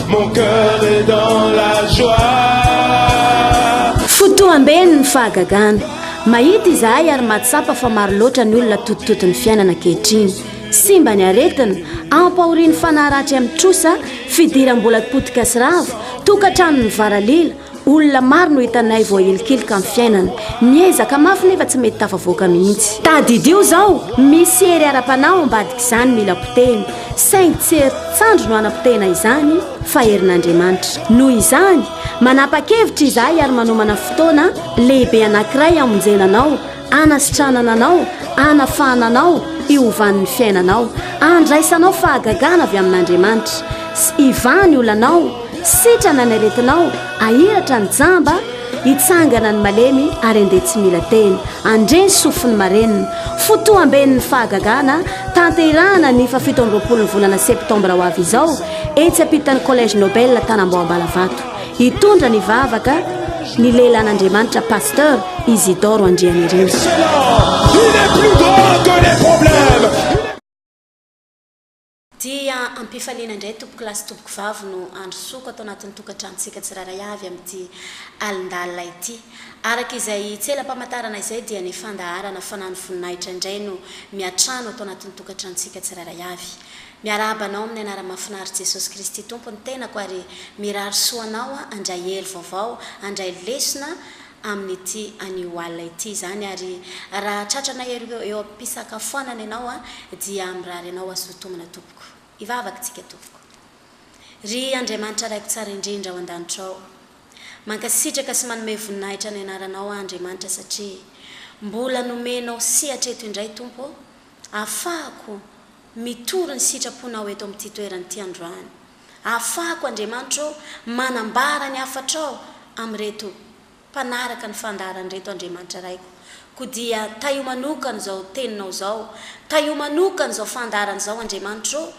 Mon cœur est dans la joie. Fotoam-beny ny fahagagana. Mahita izahay ary mahatsapa fa maro loatra ny olona totototon'ny fiainana ankehitriny. Simba ny aretina, ampahorian'ny fanahy ratsy amin'ny trosa, fidiram-bola potika sy rava, tokantrano mivaralila, Olona maro no hitanay voahelikilika amin'ny fiainana. Miezaka mafy nefa tsy mety tafavoaka mihitsy. Tadidio izao, misy hery ara-panahy ao ambadik'izany mila potehina, saingy tsy herin-tsandry no hanapotehina izany fa herin'Andriamanitra. Noho izany, manapa-kevitra izahay ary manomana fotoana lehibe anankiray hamonjena anao hanasitranana anao, hanafahana anao hiovan'ny fiainanao, handraisanao fahagagana avy amin'Andriamanitra, sy hivaha ny olanao, sitrana ny aretinao, hahiratra ny jamba, hitsangana ny malemy ary handeha tsy mila teny, handre ny sofin'ny marenina. Fotoam-ben'ny fahagagana tanterahana ny fahafito amby roapolon'ny volana septambra ho avy izao, etsy ampitan'ny Collège Nobel Tanambao Ambalavato. Hitondra ny vavaka ny lehilahin'Andriamanitra Pasteur Isidore Andrianirina. Dia am-pifaliana indray tompoko lahy sy tompoko vavy no handrosoako ato anatin'ny tokantranontsika tsirairay avy amin'ity alindalina ity. Araka izay tsela-pamantarana izay dia ny fandaharana Fanano Voninahitra indray no miatrano ato anatin'ny tokantranontsika tsirairay avy. Miarahaba anao amin'ny anara mafinaritra Jesosy Kristy Tompo ny tenako ary mirary soa anao aho handray hery vaovao handray lesona amin'ity anio alina ity izany ary raha tratranay eo eo ampisakafoanana ianao aho dia mirary anao hazoa tomana tompoko hivavaka tsika tompoko Ry Andriamanitra Raiko Tsara indrindra ao andanitra ao mankasitraka sy manome voninahitra ny anaranao aho Andriamanitra satria mbola nomenao sehatra eto indray Tompo ô afahako Mitory ny sitraponao eto amin'ity toerana ity androany. Afahako, Andriamanitra ô, manambara ny hafatrao amin'ireto mpanaraka ny fandaharana ireto, Andriamanitra Raiko. Koa dia tahio manokana izao teninao izao, tahio manokana izao fandaharana izao, Andriamanitra ô.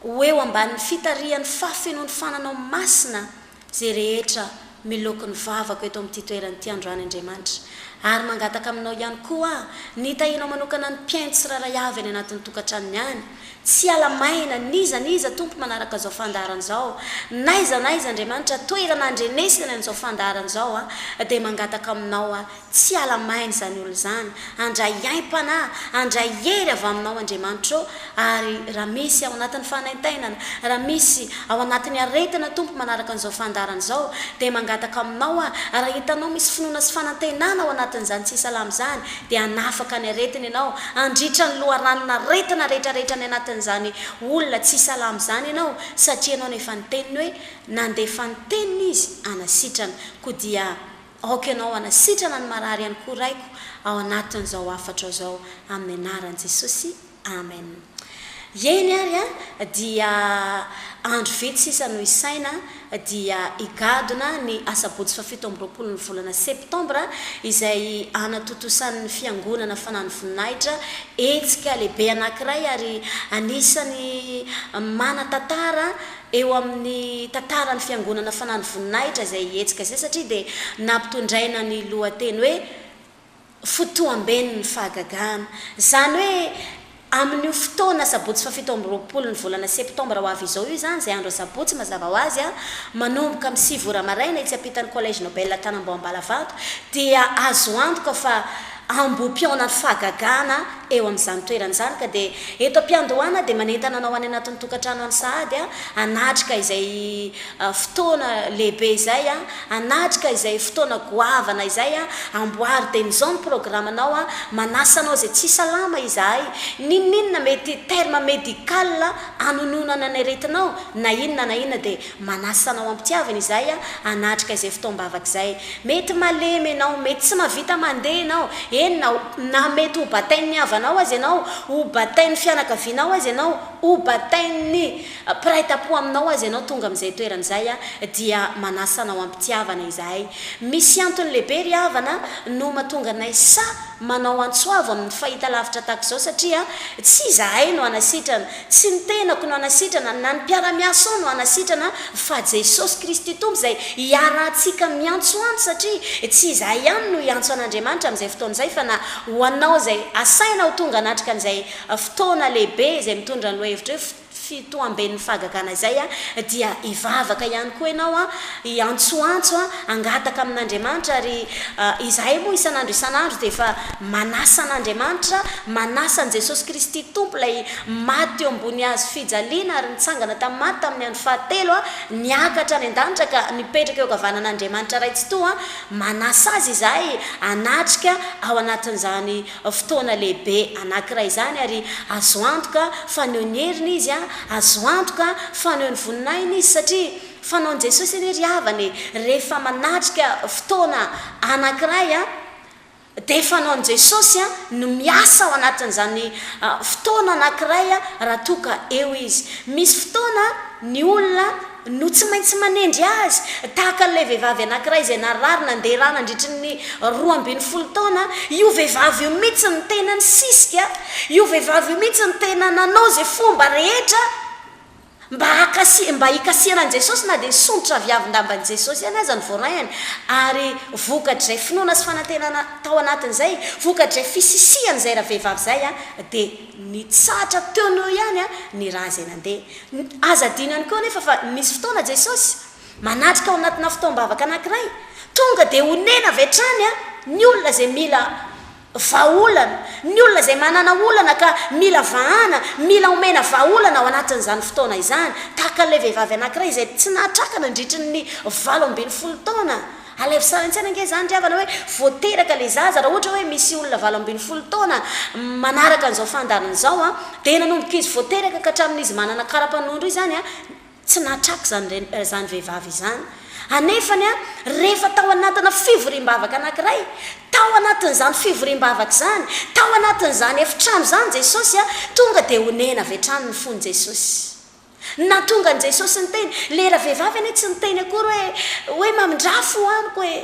Ho eo ambanin'ny fitarihan'ny fahafenoan'ny fananao masina izay rehetra miloko ny vavako eto amin'ity toerana ity androany Andriamanitra. Ary mangataka aminao ihany koa aho, ny tahinao manokana ny mpihaino tsirairay avy any anatin'ny tokantranony any, tsy hiala maina, n'iza n'iza Tompo manaraka izao fandaharana izao, n'aiza n'aiza Andriamanitra toerana andrenesany an'izao fandaharana izao aho dia mangataka aminao aho, Tsy hiala maina izany olona izany. Handray haim-panahy, handray hery avy aminao Andriamanitra ô, ary raha misy ao anatin'ny fanaintainana, raha misy ao anatin'ny aretina Tompo manaraka an'izao fandaharana izao, dia mangataka aminao aho, raha hitanao misy finoana sy fanantenana ao anatin'izany tsy salama izany, dia hanafaka ny aretiny Ianao, handritra ny loharanon'aretina rehetrarehetra any anatin'izany olona tsy salama izany Ianao, satria Ianao no efa niteny hoe, nandefa ny teniny Izy hanasitrana, koa dia. Aoka ianao hanasitrana ny marary ihany koa Raiko ao anatin'izao hafatro azao amin'ny anaran'i Jesosy Amen. Eny ary a, dia andro vitsy sisa no hisaina dia higadona ny asabotsy fahafito amby roapolo ny volana septambra izay hanatontosan'ny fiangonana fanano voninahitra hetsika lehibe anankiray ary anisan'ny manatantara eo amin'ny tantaran'ny fiangonana fanano voninahitra izay hihetsika izay satria dia nampitondraina ny lohateny hoe Fotoamben'ny Fahagagana. Izany hoe amin'io fotoana sabotsy fahafito amby roapolo ny volana septambra ho avy izao io izany izay andro asabotsy mazava ho azy manomboka amin'ny sivy ora maraina etsy ampitan'ny Collège Nobel Tanambao Ambalavanto dia azo antoka fa ambohipihaonan'ny fahagagana eo amin'izany toerana izany ka dia eto am-piandohana dia manentana anao any anatin'ny tokantrano any sahady hanatrika izay fotoana lehibe izay, hanatrika izay fotoana goavana izay, amboary dia izao ny programanao, manasa anao izay tsy salama izahay, n'inon'inona mety terme médical hanononana ny aretinao na inona na inona dia Manasa anao am-pitiavana izahay hanatrika izay fotoam-bavaka izay. Mety malemy ianao, mety tsy mahavita mandeha ianao, eny na ho, na mety ho batain'ny havanao aza ianao, ho batain'ny fianakavianao aza ianao, ho batain'ny mpiray tampo aminao aza ianao tonga amin'izay toerana izay, dia manasa anao am-pitiavana izahay. Misy antony lehibe ry havana no mahatonga anay sahy manao antso avo amin'ny fahitalavitra tahaka izao satria tsy izahay no hanasitrana, Tsy ny tenako no hanasitrana, na ny mpiara-miasao no hanasitrana, fa Jesosy Kristy Tompo izay hiarahantsika miantsoantso, satria tsy izahay ihany no hiantso an'Andriamanitra amin'izay fotoana izay, fa na ho anao izay asaina ho tonga hanatrika an'izay fotoana lehibe izay mitondra ny lohaevitra hoe Fitoamben'ny Fahagagana izay dia hivavaka ihany koa ianao Hiantsoantso hangataka amin'Andriamanitra ary izahay moa isan'andro isan'andro dia efa manasa an'Andriamanitra, manasa an'i Jesosy Kristy Tompo ilay maty teo ambony hazo fijaliana ary nitsangana tamin'ny maty tamin'ny andro fahatelo, niakatra any an-danitra ka nipetraka eo ankavanan'Andriamanitra Ray Tsitoha, manasa Azy izahay hanatrika ao anatin'izany fotoana lehibe anankiray izany ary azo antoka faneho ny heriny Izy, azo antoka faneho ny voninahiny Izy satria. Fanaon'i Jesosy anie ry havana e, rehefa manatrika fotoana anankiray an, dia fanaon'i Jesosy an, ny miasa ao anatin'izany fotoana anankiray an, raha toa ka eo Izy. Misy fotoana ny olona no tsy maintsy manendry Azy, tahaka an'ilay vehivavy anankiray izay narary nandeha ra nandritry ny roa ambin'ny folo taona, io vehivavy io mihitsy no tena nisisika, io vehivavy io mihitsy no tena nanao izay fomba rehetra, Mba hakasi, mba hikasihanan'i Jesosy na dia sondrotra aviavin-damban'i Jesosy ihany aza ny voarainy, ary vokatr'izay finoana sy fanantenana tao anatin'izay, vokatr'izay fisisihan'izay ravehivavy izay, dia nitsahatra teo noho eo ihany ny ra izay nandeha. Aza adino ihany koa anefa fa nisy fotoana Jesosy, manatrika ao anatina fotoam-bavaka anankiray, tonga dia onena avy hatrany ny olona izay mila, Vahaolana, Ny olona izay manana olana ka mila vahana, mila omena vahaolana ao anatin'izany fotoana izany. Tahaka an'ilay vehivavy anankiray izay tsy nahatraka nandritry ny valo ambin'ny folo taona. Alaivo sary an-tsaina ange izany ry havana hoe vao teraka ilay zaza, raha ohatra hoe misy olona valo ambin'ny folo taona manaraka an'izao fandaharana izao, dia nanomboka izy vao teraka ka hatramin'izy manana kara-panondro izany, Tsy nahatrako izany reny eh, izany vehivavy izany. Anefany an, rehefa tao anatina fivoriam-bavaka anankiray, tao anatin'izany fivoriam-bavaka izany, tao anatin'izany efitrano izany Jesosy an, tonga dia onena avy hatrany ny fon'i Jesosy. Nahatonga an'i Jesosy niteny, ilay ravehivavy anie tsy niteny akory hoe, hoe mamindrà fo amiko eh.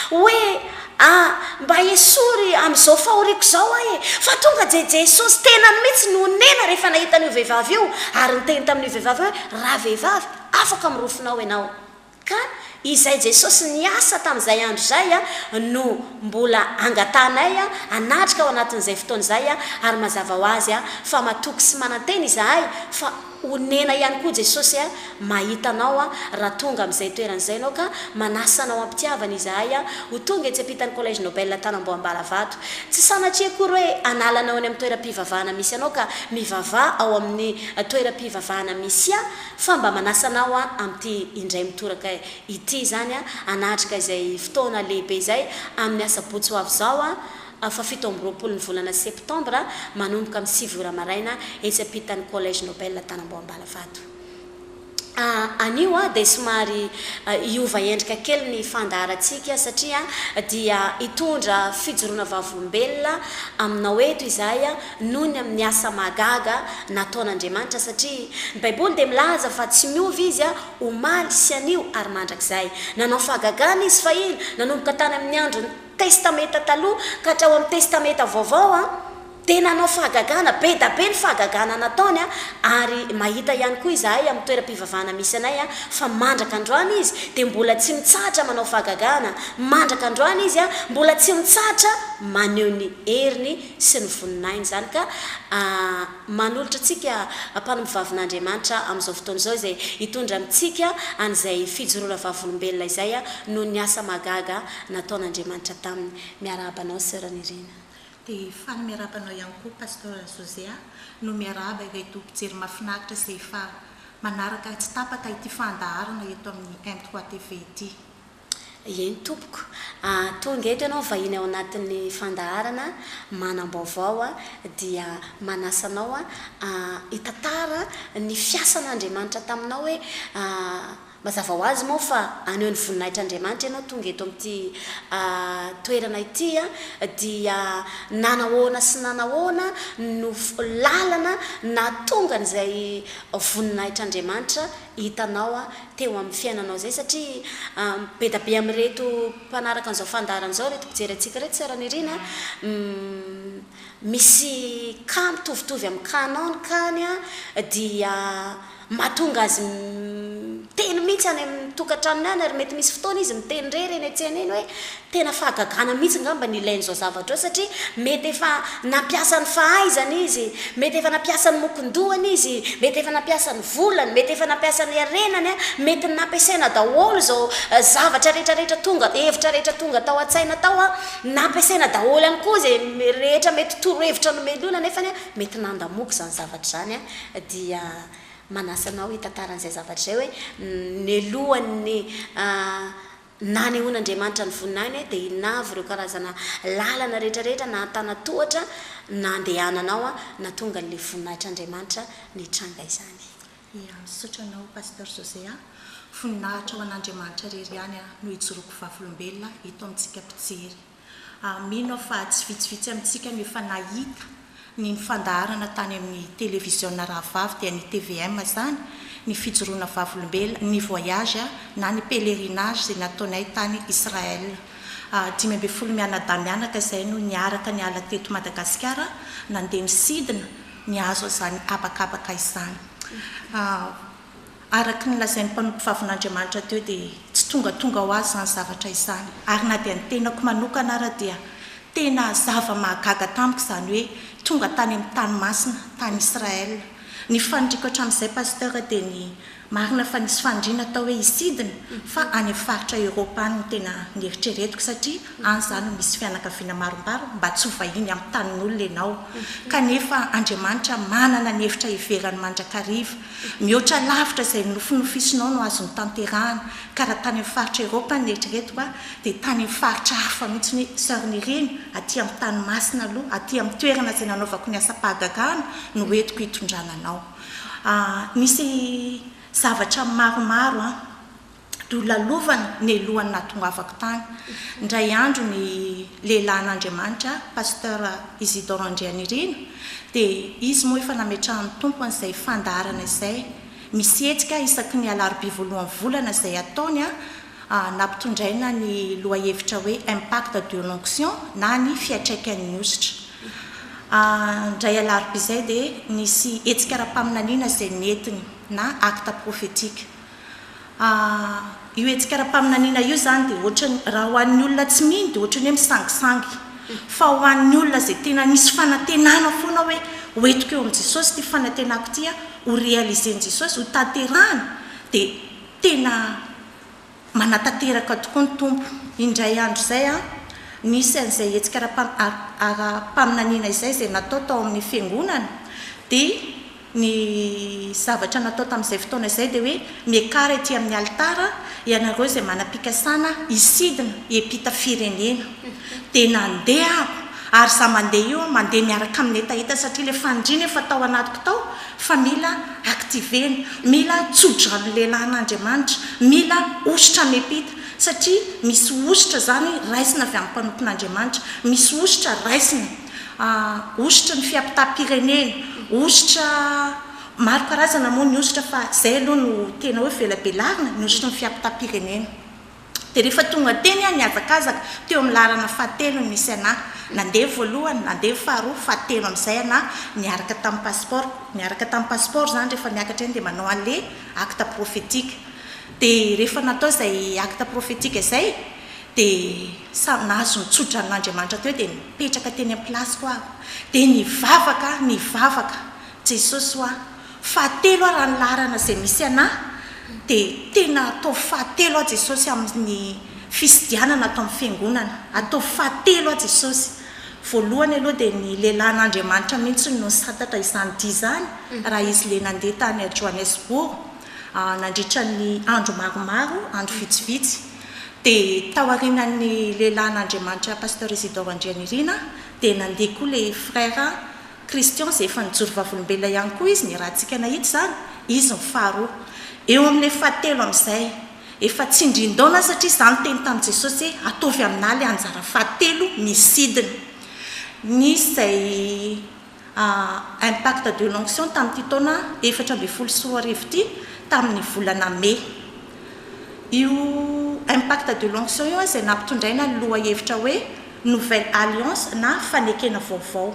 Hoe, Ah, mba esory amin'izao fahoriako izao aho e! Fa tonga dia Jesosy tenany mihitsy no onena rehefa nahita an'io vehivavy io, ary niteny tamin'io vehivavy io hoe, Ravehivavy, afaka mirofona ao ianao. Ka izay Jesosy niasa tamin'izay andro izay no mbola angatahanay hanatrika ao anatin'izay fotoana izay, ary mazava ho azy fa matoky sy manantena izahay fa. Honena ihany koa Jesosy a, mahita anao a, raha tonga amin'izay toerana izay ianao ka manasa anao am-pitiavana izahay a, ho tonga etsy ampitan'ny Collège Nobel Tanamboham-Balavato. Tsy sanatria akory hoe hanala anao eny amin'ny toeram-pivavahana misy anao ka mivavaha ao amin'ny toeram-pivavahana misy ahy, fa mba manasa anao aho amin'ity indray mitoraka ity izany a, hanatrika izay fotoana lehibe izay amin'ny asabotsy ho avy izao a, Fa fito amby roapolo ny volana septambra, manomboka amin'ny sivy ora maraina, etsy ampitan'ny Collège Nobel Antanambao-Ambalavato. Anio dia somary hiova endrika kely ny fandaharantsika satria dia hitondra fijoroana vavolombelona aminao eto izahay noho ny amin'ny asa mahagaga nataon'Andriamanitra satria ny Baiboly dia milaza fa tsy miova Izy omaly sy anio ary mandrakizay. Nanao fahagagana Izy fahiny nanomboka tany amin'ny andron'ny. Testamenta Taloha ka hatrao amin'ny Testamenta Vaovao an, dia nanao fahagagana, be da be ny fahagagana nataony an, ary mahita ihany koa izahay amin'ny toeram-pivavahana misy anay an, fa mandraka androany izy dia mbola tsy mitsahatra manao fahagagana, mandraka androany izy an, mbola tsy mitsahatra maneho ny heriny sy ny voninahiny izany ka manolotra antsika mpanompovavin'Andriamanitra amin'izao fotoana izao izay hitondra amintsika an'izay fijoroana vavolombelona izay an, noho ny asa mahagaga nataon'Andriamanitra taminy. Miarahaba anao Sœur Nirina. Dia faly miarahaba anao ihany koa Pasteur José a. No miarahaba ireto mpijery mahafinaritra izay efa manaraka tsy tapaka ity fandaharana eto amin'ny M trois TV ity. Eny tompoko. Tonga eto ianao vahiny ao anatin'ny fandaharana manam-baovao dia manasa anao hitantara ny fiasan'Andriamanitra taminao hoe Mazava ho azy moa fa haneho ny voninahitr' Andriamanitra ianao tonga eto amin'ity toerana ity dia nanahoana sy nanahoana no lalana nahatonga an'izay voninahitr' Andriamanitra hitanao teo amin'ny fiainanao izay satria be da be amin'ireto mpanaraka an'izao fandaharana izao ireto mpijery antsika ireto Sœur Nirina misy cas mitovitovy amin'ny cas-nao ny cas-ny dia Mahatonga azy miteny mihitsy any amin'ny tokantranony any ary mety misy fotoana izy miteny irery eny an-tsena eny hoe tena fahagagana mihitsy angamba ny ilainy izao zavatra izao satria mety efa nampiasa ny fahaizany izy, mety efa nampiasa ny mokon-dohany izy, mety efa nampiasa ny volany, mety efa nampiasa ny harenany, mety nampiasaina daholo izao zavatra rehetra rehetra tonga, hevitra rehetra tonga tao an-tsaina tao, nampiasaina daholo ihany koa izay rehetra mety torohevitra nomelohina nefany mety nandamoaka izany zavatra izany dia manasa anao hitantara an'izay zavatra izay hoe nialohan'ny nanehoan'Andriamanitra ny voninahiny dia inona avy ireo karazana lalana rehetrarehetra na an-tanan-tohatra nandehananao nahatonga an'ilay voninahitr'Andriamanitra nitranga izany. Ia, misaotra anao Pasteur José a! Voninahitra ho an'Andriamanitra irery ihany no ijoroako vavolombelona eto amintsika mpijery. ary mino aho fa tsy vitsivitsy amintsika no efa nahita ny ny fandaharana tany amin'ny televiziona rahavavy dia ny tvm izany ny fijoroana vavolombelona, ny voyage na ny pèlerinage izay nataonay tany Israël dimy ambin'ny folo mianadahy mianaka izay no niaraka niala teto Madagasikara nandeha nisidina nihazo an'izany habakabaka izany. Araka ny lazain'ny mpanompo vavin'Andriamanitra teo dia tsy tongatonga ho azy izany zavatra izany. Ary na dia ny tenako manokana ara dia tena zava-mahagaga tamiko izany hoe tonga tany amin'ny tany masina, tany Israël. Ny faniriko hatramin'izay Pasteur dia ny marina fa nisy faniriana tao hoe hisidina fa any amin'ny faritra Europe any no tena nieritreretiko satria any za no misy fianakaviana marombaro mba tsy ho vahiny amin'ny tanin'olona ianao kanefa Andriamanitra manana ny hevitra hiverany mandrakariva Mihoatra lavitra izay nonofinofisinao no azo notanterahana, ka raha tany amin'ny faritra Eropa ny eritreretiko aho, dia tany amin'ny faritra hafa mihitsy ny Sœur Nirina, aty amin'ny tany masina aloha, aty amin'ny toerana izay nanaovako ny asam-pahagagana no entiko hitondrana anao. Misy zavatra maromaro an. nolalovany nelohany nahatongavako tany ndray andro ny lehilahin'Andriamanitra Pasteur Isidore Andrianirina dia izy moa efa nametrahan'ny Tompo an'izay fandaharana izay misy hetsika isaky ny alarobia voalohan'ny volana izay ataony nampitondraina ny lohahevitra hoe Impact de l'onction na ny fiatraikan'ny hosotra indray alarobia izay dia nisy hetsika ara-paminaniana izay nentiny na acte prophetique Ahh, io hetsika ara-paminaniana io izany dia ohatrany, raha ho an'ny olona tsy mino dia ohatrany hoe misangisangy. Fa ho an'ny olona izay tena misy fanantenana foana hoe ho entiko eo amin'i Jesosy ity fanantenako ity an, ho réalisen'i Jesosy, ho tanterahany, dia tena manatanteraka tokoa ny Tompo. Indray andro izay an, nisy an'izay hetsika ara-paminaniana izay izay natao tao amin'ny fiangonana, dia Ny zavatra natao tamin'izay fotoana izay dia hoe, Miakara ety amin'ny alitara, ianareo izay manam-pikasana hisidina hiampita firenena. Dia nandeha aho, ary izaho mandeha io, mandeha miaraka amin'ny hetaheta satria ilay fandriana efa tao anatiko tao fa mila activer-na, mila tso-drano lelahin'Andriamanitra, mila hosotra miampita, satria misy hosotra izany raisina avy amin'ny mpanompon'Andriamanitra, misy hosotra raisina. Hosotra ny fiapitam-pirenena, hosotra maro karazana moa ny hosotra fa izay aloha no tena hoe velabelarina, ny hosotry ny fiapitam-pirenena. Dia rehefa tonga teny aho nihazakazaka, teo amin'ny laharana fahatelo no nisy anà. Nandeha voalohany, nandeha faharoa, fahatelo amin'izay anà, niaraka tamin'ny pasipaoro. Miaraka tamin'ny pasipaoro izany rehefa miakatra eny dia manao an'ilay acte prophetique. Dia rehefa natao izay acte prophetique izay Dia samy nahazo ny tso-dranon'Andriamanitra teo dia nipetraka teny am-pilasiko aho dia nivavaka aho nivavaka Jesosy hoa fahatelo aho raha ny laharana izay misy anà dia tena ataovy fahatelo aho Jesosy amin'ny fisydianana ato amin'ny fiangonana ataovy fahatelo aho Jesosy voalohany aloha dia ny lehilahin'Andriamanitra mihitsy no nisantatra izany dia izany raha izy le nandeha tany Johannesburg nandritra ny andro maromaro andro vitsivitsy Dia tao aorianan'ny lehilahin'Andriamanitra Pasteur Isidore Andrianirina dia nandeha koa ilay Frère Christian izay efa nijoro vavolombelona ihany koa izy ny rahantsika nahita izany, izy ny faharoa. Eo amin'ilay fahatelo amin'izay, efa tsindrin-daona satria izaho niteny tamin'i Jesosy hoe ataovy aminà ilay anjara fahatelo ny sidina. Nisy izay. A Impact de l'onction tamin'ity taona efatra ambin'ny folo sy roa arivo ity tamin'ny volana mey. Io Impact de l'onction io izay nampitondraina ny lohahevitra hoe Nouvelle Alliance na Fanekena Vaovao.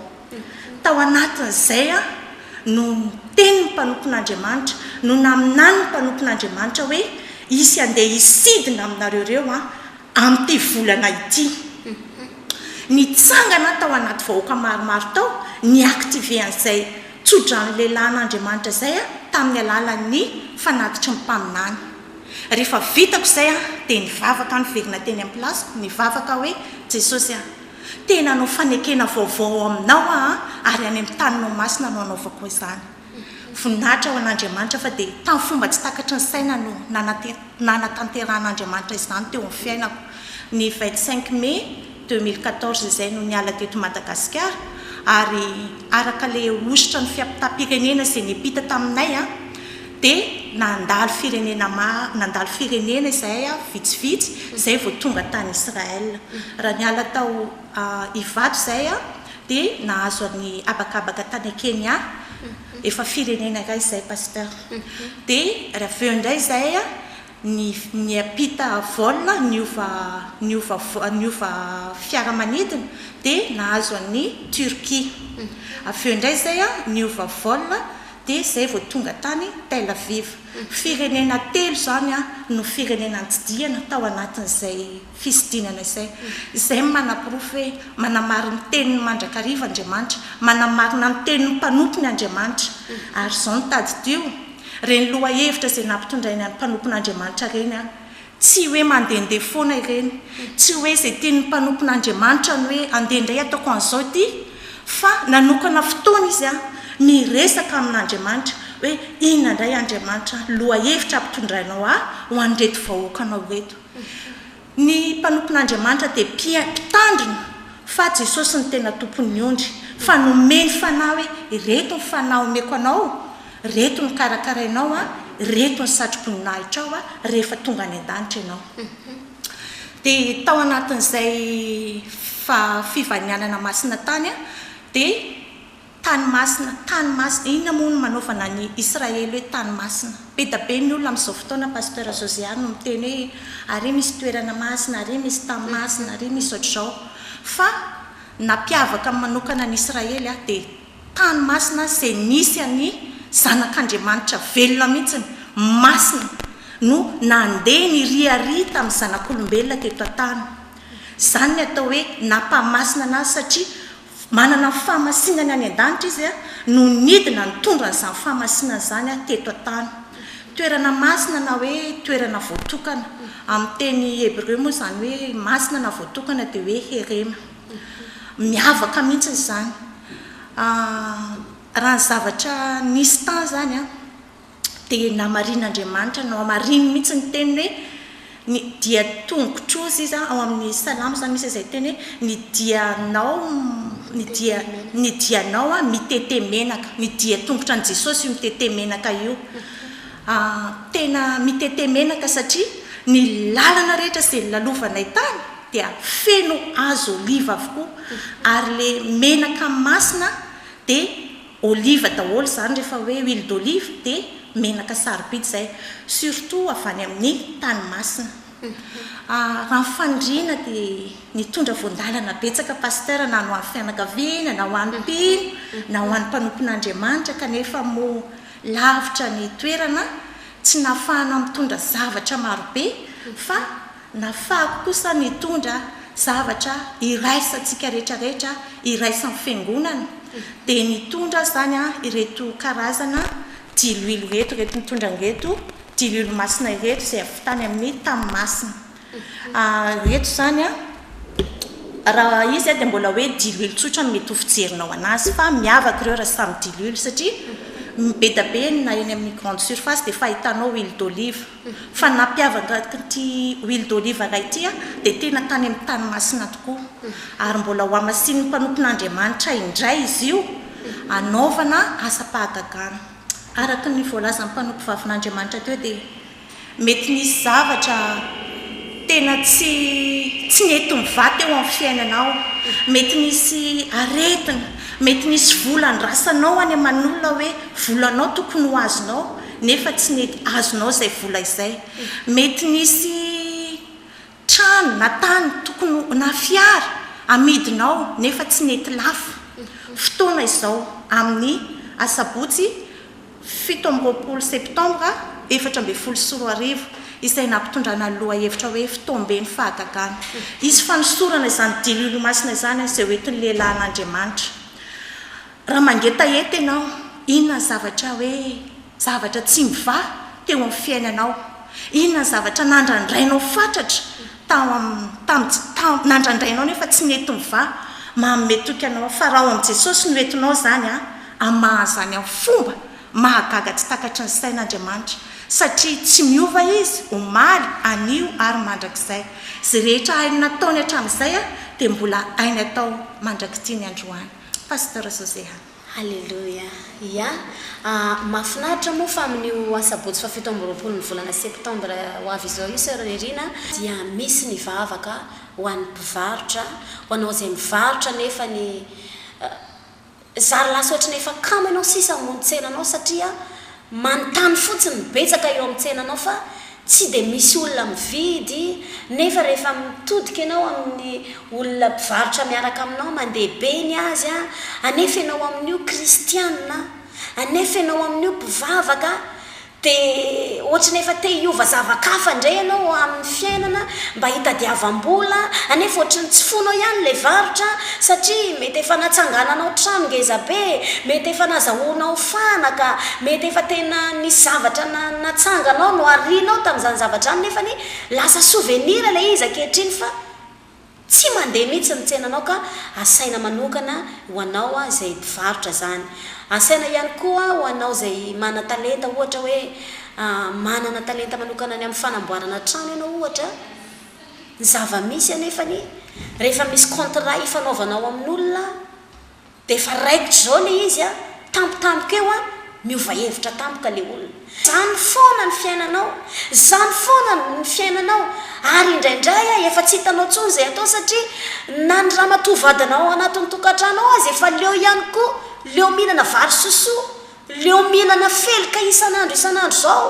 Tao anatin'izay no niteny ny mpanompon'Andriamanitra, no naminany ny mpanompon'Andriamanitra hoe hisy handeha hisidina aminareo ireo an, Amin'ity volana ity, nitsangana tao anaty vahoaka maromaro tao ny active an'izay tso-drano lehilahin'Andriamanitra izay tamin'ny alalan'ny fanatitry ny mpaminany. Rehefa vitako izay aho dia nivavaka aho niverina teny amin'ny place-ko, nivavaka aho hoe, Jesosy a! te-hanao fanekena vaovao ao aminao aho ary any amin'ny taninao masina no hanaovako izany. Voninahitra ho an'Andriamanitra fa dia tamin'ny fomba tsy takatry ny saina no nanatanterahan'Andriamanitra izany teo amin'ny fiainako. Ny vingt cinq mai deux mille quatorze izay no niala teto Madagasikara ary araka ilay hosotra ny fiampitàm-pirenena izay niampita taminay dia nandalo firenena maro, nandalo firenena izahay vitsivitsy izay vao tonga tany Israël. Raha niala tao. Ivato izay dia nahazo an'i habakabaka tany Kenya efa firenena iray izay Pasteur dia raha avy eo indray izay niampita vol niova niova niova fiaramanidina dia nahazo an'i Turquie avy eo indray izay niova vol dia izay vao tonga tany Tel Aviv firenena telo izany no firenena nitsidihana tao anatin'izay Fisidinana izay, izay manaporofo hoe manamaro ny teniny mandrakariva Andriamanitra, manamarina ny tenin'ny mpanompony Andriamanitra. Ary izao no tadidio, ireny lohahevitra izay nampitondrainy an'ny mpanompon'Andriamanitra ireny an, tsy hoe mandehandeha foana ireny, tsy hoe izay tian'ny mpanompon'Andriamanitra ny hoe andeha indray ataoko an'izao ity, fa nanokana fotoana izy an, miresaka amin'Andriamanitra hoe inona indray Andriamanitra ny lohahevitra ampitondrainao ahy ho an'ireto vahoakanao ireto. Ny mpanompon'Andriamanitra dia mpia, mpitandrina fa Jesosy no tena tompon'ny ondry, fa nomeny fanahy hoe ireto ny fanahy omeko anao, ireto ny karakarainao an, ireto ny satroboninahitranao an, rehefa tonga any an-danitra ianao. Dia tao anatin'izay fa fivanianana masina tany an, dia. Tany masina, tany masina, inona moa no manaovana an'i Israely hoe tany masina? Be da be ny olona amin'izao fotoana Pasteur Josiah no miteny hoe ary misy toerana masina, ary misy tany masina, ary misy ohatr'izao. Fa nampiavaka ny manokana an'i Israely aho dia tany masina izay nisy an'i zanak'Andriamanitra velona mihitsiny, masina, no nandeha niriaria tamin'ny zanak'olombelona teto an-tany. Izany ny atao hoe nampahamasina anazy satria Manana ny fahamasinany any an-danitra Izy no nidina nitondra an'izany fahamasinany izany teto an-tany. Toerana masina na hoe toerana voatokana. Amin'ny teny hebreo moa izany hoe masina na voatokana dia hoe herema. Miavaka mihitsy izany. Raha ny zavatra nisy tany izany, dia namarian'Andriamanitra, nohamariny mihitsy ny teniny hoe ny dia tongotro, hozy izy ao amin'ny salamo izany misy izay teny hoe ny dianao, ny dia, ny dianao mitete menaka, ny dia tongotra an'i Jesosy io mitete menaka io, tena mitete menaka satria ny lalana rehetra izay nolalovanay tany dia feno hazo oliva avokoa ary ilay menaka masina dia Olive daholo izany rehefa hoe huile d'olive dia menaka sarobidy izay, surtout avy any amin'ny tany masina. Raha ny faniriana dia nitondra voandalana betsaka Pasteur na ho an'ny fianakaviana na ho an'ny mpino na ho an'ny mpanompon'Andriamanitra kanefa moa lavitra ny toerana tsy nahafahana mitondra zavatra marobe fa Nafahako kosa nitondra zavatra iraisantsika rehetra rehetra iraisan'ny fiangonana dia nitondra zany aho ireto karazana diloilo ireto, ireto nitondra an'ireto diloilo masina ireto izay avy tany amin'ny tany masina ireto zany raha izy dia mbola hoe diloilo tsotra no mety ho fijerinao anazy fa miavaka ireo raha samy diloilo satria be dia be na eny amin'ny grande surface dia fahitanao huile d'olive. Fa nampiavaka an'ity huile d'olive anay ity dia tena tany amin'ny tany masina tokoa ary mbola hohamasinin'ny mpanompon'Andriamanitra indray izy io hanaovana asam-pahagagana. Araka ny voalazan'ny mpanompovavin'Andriamanitra teo dia mety nisy zavatra tena tsy tsy nety mivà teo amin'ny fiainanao, mety nisy aretina, mety nisy vola andrasanao any aman'olona hoe volanao tokony ho azonao. nefa tsy nety azonao izay vola izay, mety nisy trano na tany tokony na fiara amidinao nefa tsy nety lafo, fotoana izao amin'ny asabotsy fito amby roapolo septambra efatra ambin'ny folo sy roa arivo izay nampitondrana ny lohahevitra hoe Fitoamben'ny fahagagana, hisy fanosorana izany Diloilo Masina izany izay hoentin'ny lehilahin'Andriamanitra. Raha mangetaheta ianao, inona ny zavatra hoe zavatra tsy mivaha teo amin'ny fiainanao? Inona ny zavatra nandrandrainao fatratra tao amin'ny tamin'ny tsy tao nandrandrainao nefa tsy nety nivaha? Manome toky anao fa raha ao amin'i Jesosy no entinao izany an, hamaha an'izany amin'ny fomba mahagaga tsy takatry ny saina Andriamanitra satria tsy miova Izy omaly, anio ary mandrakizay. Izay rehetra hainy nataony hatramin'izay dia mbola hainy atao mandrak'ity ny androany. Pasteur José an! Haleloia! Ia? Ah, mahafinaritra moa fa amin'io Asabotsy fahafito amby roapolo ny volana Septembre ho avy izao io Soeur Nerina dia misy ny vavaka ho an'ny mpivarotra, ho anao izay mivarotra nefa ny zary lasa ohatry ny efa kamo ianao sisa hamono tsena anao satria Manontany fotsiny ny betsaka eo amin'ny tsenanao fa tsy dia misy olona mividy nefa rehefa mitodika ianao amin'ny olona mpivarotra miaraka aminao mandeha be ny azy anefa ianao amin'io kristiana anefa ianao amin'io mpivavaka dia ohatry ny efa te hiova zava-kafa indray ianao amin'ny fiainana mba hitadiavam-bola anefa ohatry ny tsy fonao ihany ilay varotra satria mety efa natsangananao trano ngezabe mety efa nazahoanao fahana ka mety efa tena nisy zavatra na natsanganao no arianao tamin'izany zavatra izany nefany lasa souvenir ilay izy ankehitriny fa tsy mandeha mihitsy ny tsenanao ka asaina manokana ho anao izay mpivarotra izany asaina ihany koa ho anao izay manan-talenta ohatra hoe manana talenta manokana ny amin'ny fanamboarana trano ianao ohatra ny zava-misy anefany rehefa misy contrat ifanaovanao amin'olona Dia efa raikitra izao le izy a! Tampotampoka eo a! Miova hevitra tampoka le olona. Zany foana ny fiainanao, zany foana ny fiainanao ary indraindray a efa tsy hitanao tsony zay atao satria na ny ramatoa vadinao ao anatin'ny tokantrano ao aza efa leo ihany koa, leo mihinana vary sosoa, leo mihinana felika isan'andro isan'andro zao.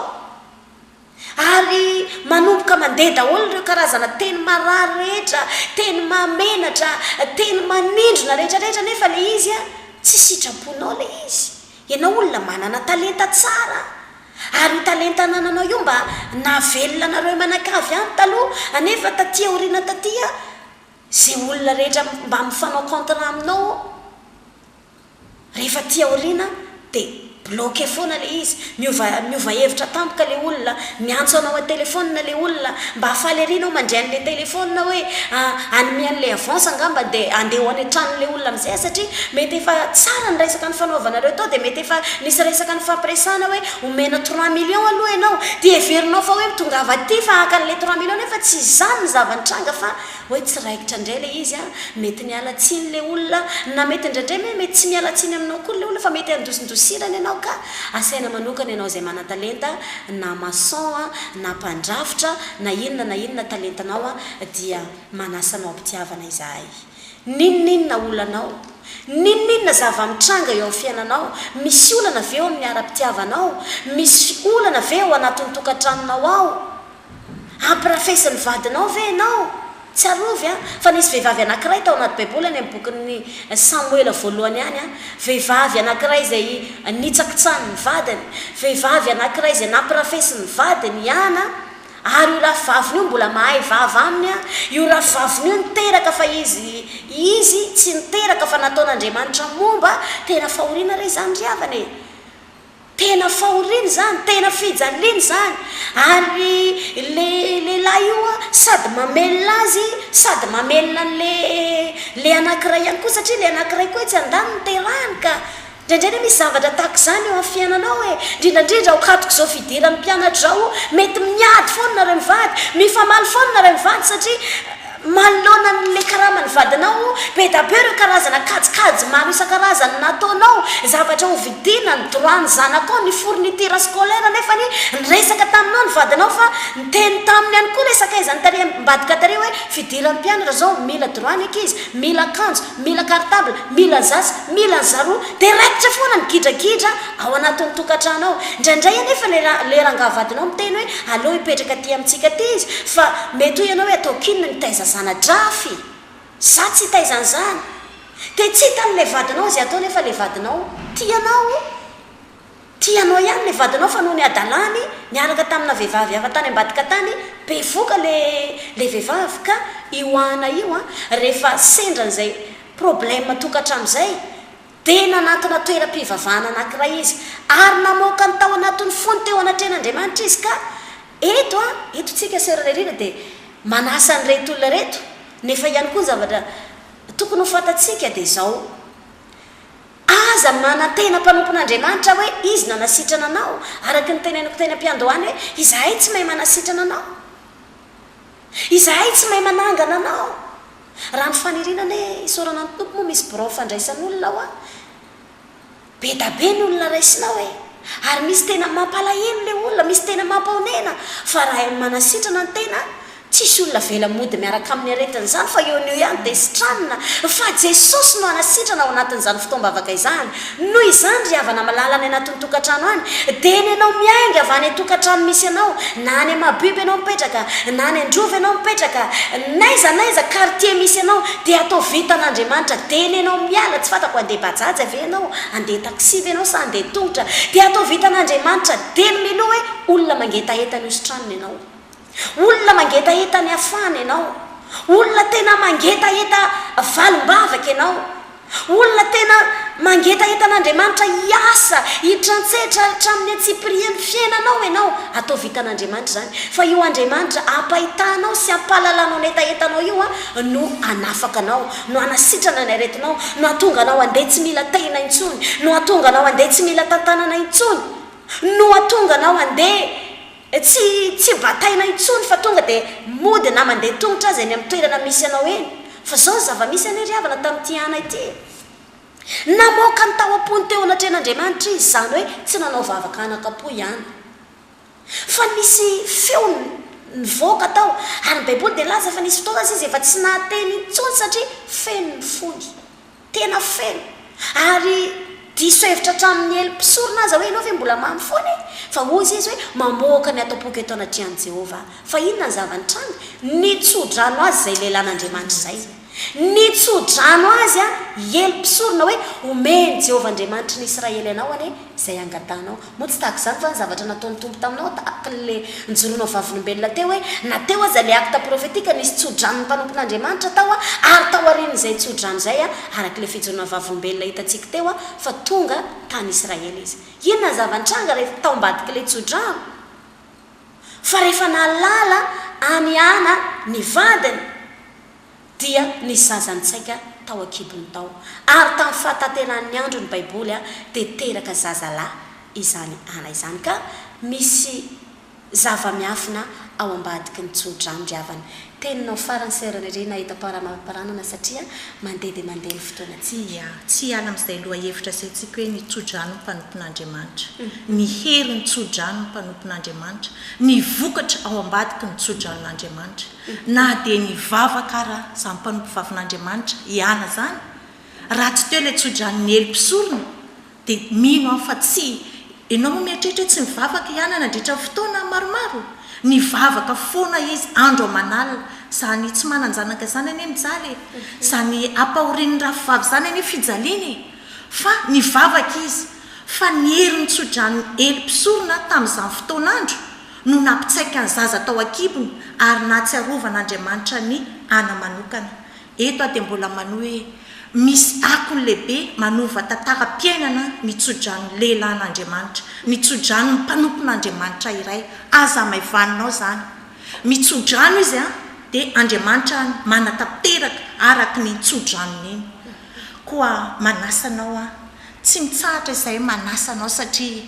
Ary manomboka mandeha daholo ireo karazana teny marary rehetra, teny mahamenatra, teny manindrona rehetra rehetra nefa le izy a, tsy sitraponao le izy. Ianao olona manana talenta tsara, ary io talenta anananao io mba nahavelona anareo manakavy any taloha, anefa taty aoriana taty a, ze olona rehetra mba mifanao contrat aminao, Rehefa aty aoriana dia bloquer foana ilay izy, miova miova hevitra tampoka ilay olona, miantso anao an-telefaonina ilay olona, mba faly ery ianao mandre an'ilay telefaonina hoe hanome an'ilay avance angamba dia handeha ho any an-tranon'ilay olona amin'izay satria mety efa tsara ny resaka nifanaovanareo tao dia mety efa nisy resaka nifampiresahana hoe omena trois millions aloha ianao dia heverinao fa hoe mitongava aty fa haka an'ilay trois millions nefa tsy izany ny zava-nitranga fa Hoe tsy raikitra indray ilay izy a! Mety miala tsiny ilay olona na mety indraindray moa mety tsy miala tsiny aminao koa ilay olona fa mety andosindosirana ianao ka! Asaina manokana ianao izay manan-talenta na maçon a, na mpandrafitra, na inona na inona talentanao a, dia manasa anao am-pitiavana izahay. N'inon'inona olanao, n'inon'inona zava-mitranga eo amin'ny fiainanao, misy olana ve eo amin'ny ara-pitiavanao, misy olana ve ao anatin'ny tokantranonao ao, Ampirafesin'ny vadinao ve ianao? Tsiarovy an, fa nisy vehivavy anankiray tao anaty Baiboly any amin'ny bokin'i Samoela Voalohany ihany an, vehivavy anankiray izay nitsakitsahin'ny vadiny, vehivavy anankiray izay nampirafesin'ny vadiny ihany an, ary io rafivaviny io mbola mahay vava aminy an, io rafivaviny io niteraka fa izy, izy tsy niteraka fa nataon'Andriamanitra momba, tena fahoriana re izany ry havana e! Tena fahoriana izany, tena fijaliana izany, ary ilay lehilahy io an, sady mamelona azy, sady mamelona an'ilay anankiray ihany koa, satria ilay anankiray koa etsy andaniny no terahany ka. Indraindray anie misy zavatra tahaka izany eo amin'ny fiainanao e, indrindra indrindra ao ankaton'izao fidiran'ny mpianatra izao, mety miady foana nareo mivady, mifamaly foana nareo mivady satria. Manoloana an'ilay karaman'ny vadinao, be da be ireo karazana kajikajy maro isan-karazany nataonao, zavatra ho vidiana, ny droit ny zanakao, ny fourniture scolaire nefa anie niresaka taminao ny vadinao fa niteny taminy ihany koa ilay sakaizan'ny tale ambadika tale hoe fidiran'ny mpianatra izao mila droit ny ankizy, mila akanjo, mila cartable, mila ny zaza, mila ny zaroa, dia raikitra foana ny gidragidra ao anatin'ny tokantrano ao. Indraindray anefa ilay ra, ilay rangaha vadinao miteny hoe, Aleo hipetraka aty amintsika aty izy, fa mety hoy ianao hoe, Ataoko inona ny hitaiza zana-drafy? Izaho tsy hitaiza an'izany! Dia tsy hitan'ilay vadinao izay atao nefa ilay vadinao tia anao. Tia anao ihany ilay vadinao fa noho ny hadalany niaraka tamina vehivavy hafa tany ambadika tany, bevoka ilay, ilay vehivavy ka io Ana io an, rehefa sendra an'izay problème tokantrano izay, Dia nanatona toeram-pivavahana anankiray izy, ary namoaka ny tao anatin'ny fony teo anatrehan'Andriamanitra izy ka, eto a, eto tsika Sœur Lerina dia manasa an'ireto olona ireto, nefa ihany koa ny zavatra tokony ho fantatsika dia izao, aza manantena mpanompon'Andriamanitra hoe Izy nanasitrana anao, araka ny teneniko teny am-piandohana hoe, izahay tsy mahay manasitrana anao. Izahay tsy mahay manangana anao. Raha ny faniriana anie isaorana ny Tompo moa misy birao fandraisan'olona hoa. Bedabe ny olona raisinao e. Ary misy tena mampalahelo le olona, misy tena mampahonena fa raha hain'ny manasitrana ny tena tsisy olona avela mody miaraka amin'ny aretina izany fa eo no eo ihany dia sitranina fa Jesosy no hanasitrana ao anatin'izany fotoam-bavaka izany Noho izany, ry havana malala any anatin'ny tokantrano any, dia eny ianao miainga avy any an-tokantrano misy anao, na any Mahabibo ianao mipetraka, na any Androva ianao mipetraka, n'aiza n'aiza quartier misy anao, dia atao vitan'Andriamanitra, dia eny ianao miala, tsy fantako handeha bajaja ve ianao, handeha taxi ve ianao sa handeha tongotra, dia atao vitan'Andriamanitra, dia ny miloha hoe olona mangetaheta ny hositranony ianao. Olona mangetaheta ny hafahana ianao. Olona tena mangetaheta valim-bavaka ianao. Olona tena mangetaheta an'Andriamanitra hiasa, hitrantsetra hatramin'ny antsipirian'ny fiainanao ianao. Atao vitan'Andriamanitra izany. Fa io Andriamanitra hampahitanao sy hampahalalanao ny hetahetanao io no hanafaka anao, no hanasitrana ny aretinao, no hahatonga anao handeha tsy mila tehina intsony, no hahatonga anao handeha tsy mila tantanana intsony, no hahatonga anao handeha Tsy tsy bataina intsony fa tonga dia mody na mandeha tongotra aza eny amin'ny toerana misy anao eny. Fa izao ny zava-misy anie ry havana tamin'ity ana ity e! Namoaka ny tao am-pony teo anatrehan'Andriamanitra izy, izany hoe tsy nanao vavaka anakam-po ihany. Fa nisy feo nivoaka tao, ary ny Baiboly dia nilaza fa nisy fotoana aza izy efa tsy nahateny intsony satria feno ny fony. Tena feno. Ary diso hevitra hatramin'ny elo mpisorona aza hoe ianao ve mbola mamy foana e? Fa hoy Izy hoe, Mamoaka ny ato am-poko eto anatrehan'i Jehovah aho. Fa inona ny zava-nitranga? Nitso-drano azy izay lehilahin'Andriamanitra izay. Nitso-drano azy i elo mpisorona hoe, Omeny Jehovah Andriamanitry ny Israely anao anie izay angatahanao. Moa tsy tahaka izany va ny zavatra nataon'ny Tompo taminao, tahaka an'ilay nijoroanao vavolombelona teo hoe, na teo aza ilay acte prophetique, nisy tso-dranon'ny mpanompon'Andriamanitra tao, ary taorian'izay tso-drano izay, araka ilay fijoroana vavolombelona hitantsika teo, fa tonga tany Israël Izy. Inona ny zava-nitranga rehefa tao ambadik'ilay tso-drano? Fa rehefa nahalala an'i Ana ny vadiny, dia ny zazan-tsaika tao an-kibony tao, ary tamin'ny fahatanterahan'ny andron'ny Baiboly dia teraka zazalahy izany Ana izany, ka misy zava-miafina ao ambadiky ny tsodrano ry havana. Teninao farany Sœur Riri nahita paramanparanana satria mandeha dia mandeha ny fotoana tsy. Ia, tsy hiala amin'izay lohahevitra asaintsika hoe ny tsodrano ny mpanompon'Andriamanitra, ny herin'ny tsodrano ny mpanompon'Andriamanitra, ny vokatra ao ambadiky ny tsodranon'Andriamanitra. Na dia nivavaka ara zany mpanompovavin'Andriamanitra i Ana zany, raha tsy teo ilay tso-dranon'i Ely mpisorona, dia mino aho fa tsy Ianao moa mieritreritra hoe tsy nivavaka i Ana nandritra ny fotoana maromaro? Nivavaka foana izy andro aman'alina, zany tsy manan-janaka zany anie mijaly e! Zany ampahorin'ny rafivavy zany anie fijaliana e! Fa nivavaka izy, fa ny herin'ny tso-dranon'i Ely mpisorona tamin'izany fotoan'andro, no nampitsaika ny zaza tao an-kibony ary nahatsiarovan' Andriamanitra an' i Ana manokana. Eto aho dia mbola manohy hoe misy akony lehibe manova tantaram-piainana ny tsodranon' lehilahin' Andriamanitra, ny tsodranon' ny mpanompon' Andriamanitra iray. Aza hamaivaninao izany. Mitsodrano izy an, dia Andriamanitra an manatanteraka araka an' iny tsodranony iny. Koa manasa anao aho. Tsy mitsahatra izahay manasa anao satria.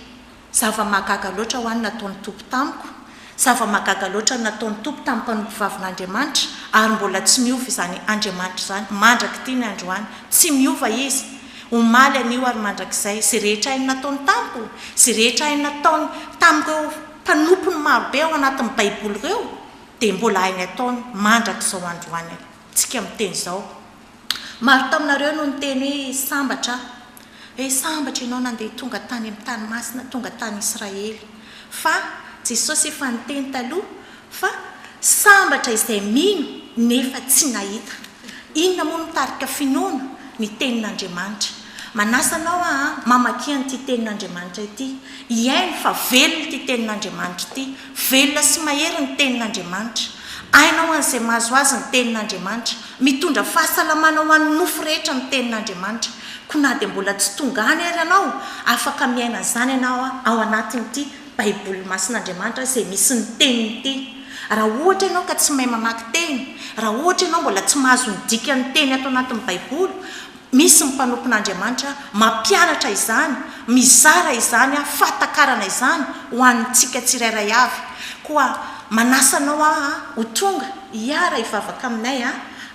Zava-mahagaga loatra ho ahy ny nataon'ny Tompo tamiko, zava-mahagaga loatra ny nataon'ny Tompo tamin'ny mpanompo vavin'Andriamanitra, ary mbola tsy miova izany Andriamanitra izany mandrak'ity ny androany. Tsy miova Izy, omaly, anio, ary mandrakizay. Izay rehetra hainy nataony tamiko, izay rehetra hainy nataony tamin'ireo mpanompony marobe ao anatin'ny Baiboly ireo, dia mbola hainy ataony mandrak'izao androany. Tsika miteny izao. Maro taminareo no niteny hoe, Sambatra aho. He, sambatra ianao nandeha tonga tany amin'ny tany masina, tonga tany Israely. Fa, Jesosy efa niteny taloha fa, Sambatra izay mino nefa tsy nahita. Inona moa no mitarika finoana? Ny Tenin'Andriamanitra. Manasa anao aho hamakia an'ity Tenin'Andriamanitra ity, hihaino fa velona ity Tenin'Andriamanitra ity, Velona sy mahery ny Tenin'Andriamanitra. Aina ho an'izay mahazo azy ny Tenin'Andriamanitra. Mitondra fahasalamana ho an'ny nofo rehetra ny Tenin'Andriamanitra. Koa na dia mbola tsy tonga any ary ianao, afaka miaina an'izany ianao ao anatin'ity Baiboly masin'Andriamanitra izay misy ny Teniny ity. Raha ohatra ianao ka tsy mahay mamaky teny, raha ohatra ianao mbola tsy mahazo ny dikan'ny teny ato anatin'ny Baiboly, Misy ny mpanompon'Andriamanitra mampianatra izany, mizara izany fahatakarana izany ho antsika tsirairay avy. Koa manasa anao aho ho tonga hiara hivavaka aminay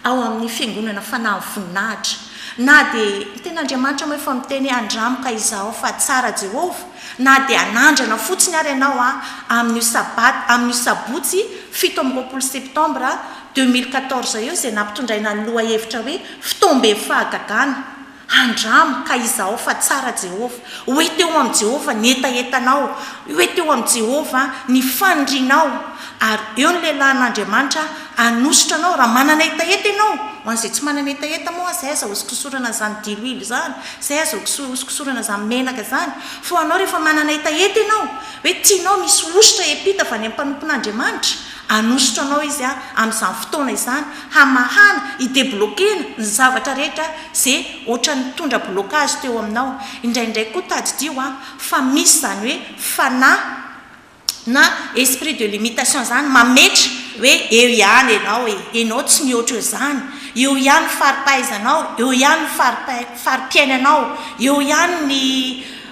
ao amin'ny Fiangonana Fanahy Voninahitra. Na dia ny Tenin'Andriamanitra moa efa miteny hoe andramo ka izahao fa tsara Jehovah, na dia hanandrana fotsiny ary ianao amin'io Sabat, amin'io Sabotsy fito amby roapolo Septambra deux mille quatorze eo izay nampitondraina ny lohahevitra hoe Fotoam-be Fahagagana, Andramo ka izahao fa tsara Jehovah. Ho hita eo amin'i Jehovah ny hetahetanao, ho hita eo amin'i Jehovah ny fanirianao, ary eo ny lehilahin'Andriamanitra hanosotra anao raha manana hetaheta ianao. Ho an'izay tsy manana hetaheta moa, izay aza hosokosorana izany diloilo izany, izay aza hosokosorana izany menaka izany. Fa ho anao rehefa manana hetaheta ianao, hoe tianao misy hosotra hiampita avy any amin'ny mpanompon'Andriamanitra, Hanositra anao Izy amin'izany fotoana izany hamahana, hi-debloquer-na ny zavatra rehetra izay ohatran'ny nitondra blocage teo aminao. Indraindray koa tadidio fa misy izany hoe fanahy na esprit de limitation izany mametra hoe eo ihany ianao e, ianao tsy mihoatra eo izany, eo ihany ny fari-pahaizanao, eo ihany ny fari-piainanao, eo ihany ny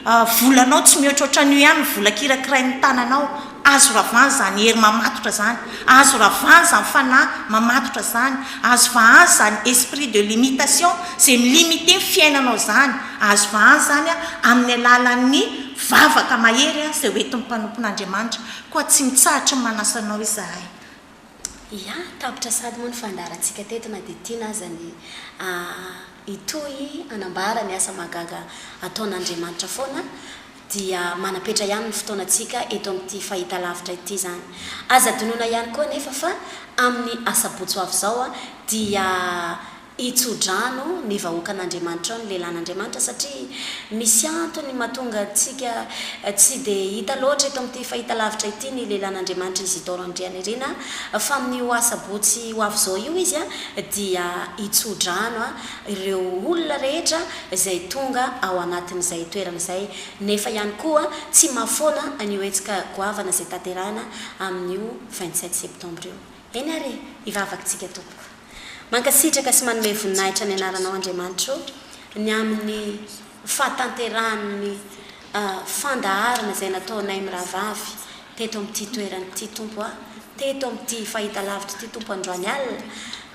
A, volanao tsy mihoatra ohatran'io ihany ny vola kirakirain'ny tananao, azo ravana izany hery mamatotra izany, azo ravana izany fanahy mamatotra izany, azo vahana izany esprit de limitation izay mi-limiter ny fiainanao izany, azo vahana izany amin'ny alalan'ny vavaka mahery izay hoentin'ny mpanompon'Andriamanitra, koa tsy mitsahatra ny manasa anao izahay. Ia, tapitra sady moa ny fandaharantsika teto na dia tiana aza ny hitohy hanambara ny asa mahagaga ataon'Andriamanitra foana dia manapetra ihany ny fotoanantsika eto amin'ity fahitalavitra ity izany. Aza adinoina ihany koa anefa fa amin'ny asabotsy ho avy izao dia Hitso-drano ny vahoakan'Andriamanitra ao ny lelan'Andriamanitra satria misy antony mahatonga antsika tsy dia hita loatra eto amin'ity fahitalavitra ity ny lelan'Andriamanitra Isidore Andrianirina fa amin'io asabotsy ho avy izao io izy dia hitso-drano ireo olona rehetra izay tonga ao anatin'izay toerana izay nefa ihany koa tsy mahafoana an'io hetsika goavana izay tanterahina amin'io vingt sept septembre io. Eny ary hivavaka tsika tompoko. Mankasitraka sy manome voninahitra ny anaranao Andriamanitra ô, ny amin'ny fahatanterahan'ny fandaharana izay nataonay mirahavavy teto amin'ity toerana ity Tompo a, teto amin'ity fahitalavitra ity Tompo androany alina,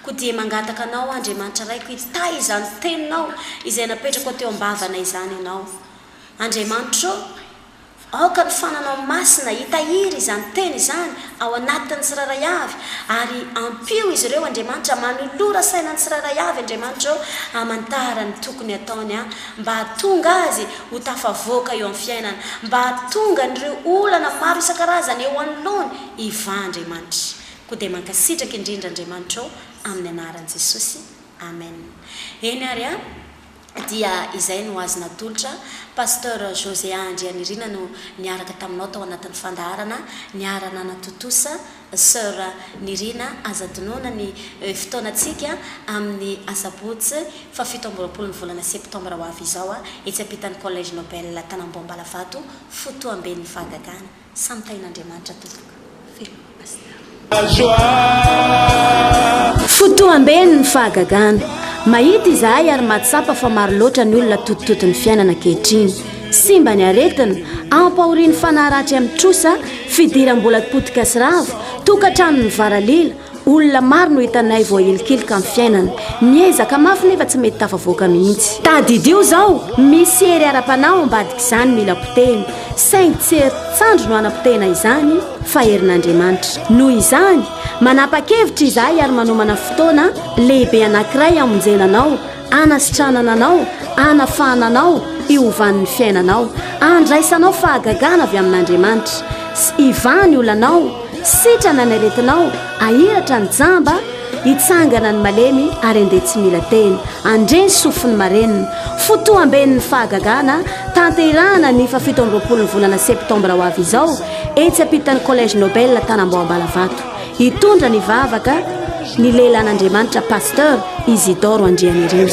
koa dia mangataka Anao Andriamanitra Raiko hitahy izany Teninao izay napetrakao teo am-bavana izany Ianao Andriamanitra ô, Aoka ny fananao masina hitahiry izany teny izany ao anatin'ny tsirairay avy, ary ampio izy ireo, Andriamanitra. Manolora saina ny tsirairay avy, Andriamanitra ô, hamantara ny tokony hataony, an, mba hahatonga azy ho tafavoaka eo amin'ny fiainana, mba hahatonga an'ireo olana maro isan-karazany eo anoloany hivaha, Andriamanitra. Koa dia mankasitraka indrindra, Andriamanitra ô, amin'ny anaran'i Jesosy. Amen. Eny ary, an. dia izay no azo natolotra, Pasteur José A Andrianirina no niaraka taminao tao anatin'ny fandaharana niara-nanatontosa, Soeur Nirina aza adinoina ny fotoanantsika amin'ny asabotsy faha fito amby roapolo ny volana septembre ho avy izao etsy ampitan'ny Collège Nobel Tanambao Ambalavato, fotoamben'ny fahagagana. Samy tahin'Andriamanitra tompoko veloma Pasteur. Fotoamben ny fahagagana. Mahita izahay ary mahatsapa fa maro loatra ny olona totototo ny fiainana ankehitriny. Simba ny aretina, ampahorian'ny fanahy ratsy amin'ny trosa, fidiram-bola potika sy rava, tokantrano mivaralila, Olona maro no hitanay voahilikilika amin'ny fiainana. Miezaka mafy nefa tsy mety tafavoaka mihitsy. Tadidio izao, misy hery ara-panahy ao ambadik'izany mila potehina, saingy tsy herin-tsandry no hanapotehina izany fa herin'Andriamanitra. Noho izany, manapa-kevitra izahay ary manomana fotoana lehibe anankiray hamonjena anao hanasitranana anao, hanafahana anao hiovan'ny fiainanao, handraisanao fahagagana avy amin'Andriamanitra, sy hivaha ny olanao, sitrana ny aretinao, hahiratra ny jamba, hitsangana ny malemy ary handeha tsy mila teny, handre ny sofin'ny marenina. Fotoam-ben'ny fahagagana tanterahana ny fahafito amby roapolon'ny volana septambra ho avy izao, etsy ampitan'ny Collège Nobel Tanambao Ambalavato. Hitondra ny vavaka ny lehilahin'Andriamanitra Pasteur Isidore Andrianirina.